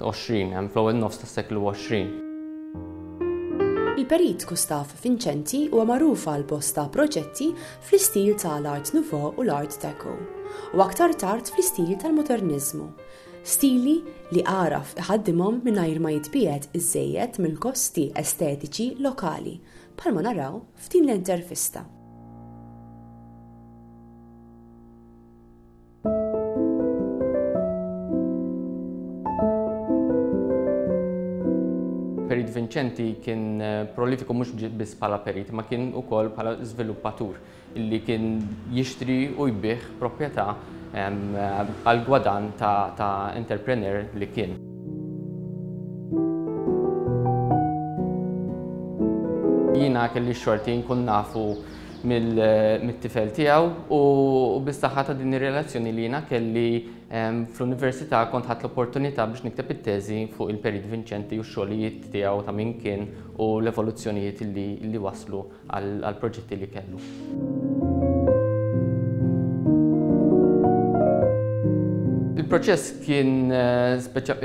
20 hemm fl-ewwel nofs tas-seklu 20. Il-Perit Gustav Vincenti huwa magħruf għal bosta proġetti fl-istil ta' l-Art Nouveau u l-Art Deco, u aktar tard fl-istil tal-Moderniżmu, stili li għaraf iħaddimhom mingħajr ma jitbiegħed iżżejjed mill-gosti estetiċi lokali, bħalma naraw f'din l-intervista. Perit Vincenti kien prolifiku mhux biss bħala perit, ma kien ukoll bħala żviluppatur illi kien jixtri u jbih proprjetà għal gwadan ta' entrepreneur li kien. Jiena kelli xorti nkun nafu mit-tifel tiegħu u bis-saħħa ta' din ir-relazzjoni li jiena kelli fl-università kont ħadt l-opportunità biex nikteb it-teżi fuq il-Perit Vinċenti u x-xogħlijiet tiegħu ta' min kien u l-evoluzzjonijiet li wasslu għall-proġetti li kellu. Il-proċess kien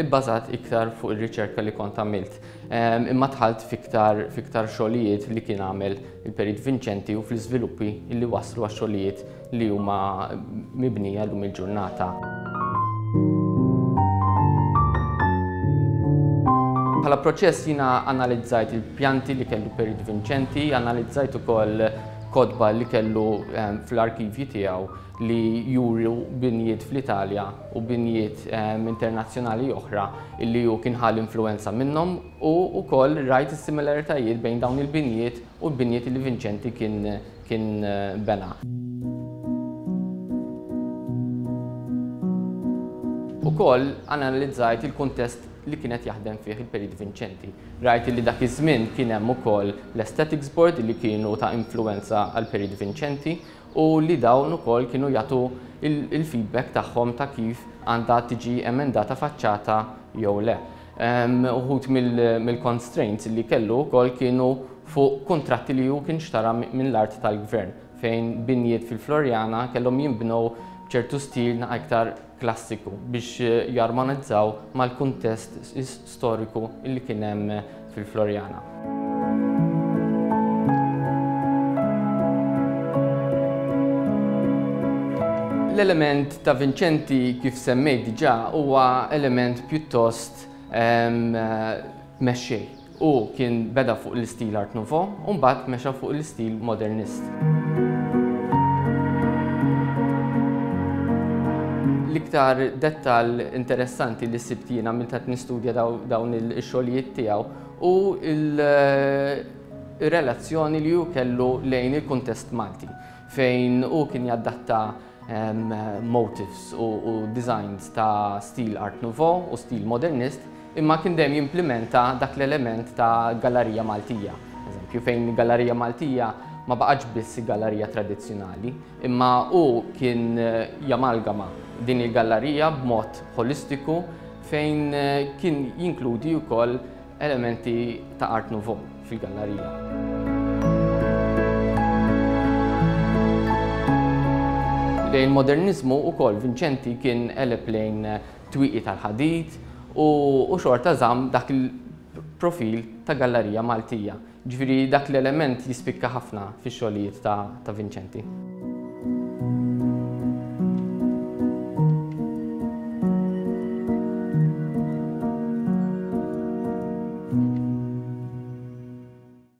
ibbażat iktar fuq ir-riċerka li kont għamilt. imma dħalt f'iktar xogħlijiet li kien għamel il-Perit Vinċenti u fl-iżviluppi li waslu għax-xogħlijiet li huma mibnija llum il-ġurnata. Bħala proċess jiena analizzajt il-pjanti li kellu Perit Vinċenti, analizzajt ukoll kotba li kellu fl-arkivji tiegħu li juru binjiet fl-Italja u binjiet internazzjonali oħra illi hu kien ħa l-influwenza minnhom u wkoll rajt is-similaritajiet bejn dawn il-binjiet u l-binjiet li Vinċenti kien kien bena. Ukoll analizzajt il-kuntest li kien qed jaħdem fih il-Perit Vinċenti. Rajt illi dak iż-żmien kien hemm ukoll l-Aesthetics Board li kienu ta' influwenza għall-Perit Vinċenti u li dawn ukoll kienu jagħtu l-feedback tagħhom ta' kif għandha tiġi emendata faċċata jew le. Uħud mill-constraints li kellu wkoll kienu fuq kuntratti li hu kien xtara minn l-art tal-Gvern fejn binjiet fil-Floriana kellhom jinbnew b'ċertu stil aktar klassiku biex jarmonizzaw mal-kuntest storiku li kien hemm fil-Floriana. L-element ta' Vincenti kif semmejt diġà huwa element pjuttost mexxej. Hu kien beda fuq l-istil Art Nouveau u mbagħad mexa fuq l-istil Modernist. L-iktar dettall interessanti li sibt jiena minn qed nistudja dawn ix-xogħlijiet tiegħu hu l-relazzjoni li hu kellu lejn il-kuntest Malti fejn hu kien jadatta motifs u designs ta' stil Art Nouveau u stil modernist, imma kien dejjem jimplimenta dak l-element ta' gallarija Maltija. Eżempju, fejn gallarija Maltija ma baqgħetx biss gallarija tradizzjonali, imma hu kien eh, jamalgama din il-gallarija b'mod holistiku fejn eh, kien jinkludi wkoll Elementi ta' Art Nouveau fil-gallarija. Lejn moderniżmu wkoll Vinċenti kien eleb lejn twiqi tal-ħadid u xorta żamm dak il-profil ta' gallarija Maltija. Ġifieri dak l-element jispikka ħafna fix-xogħlijiet ta' Vincenti.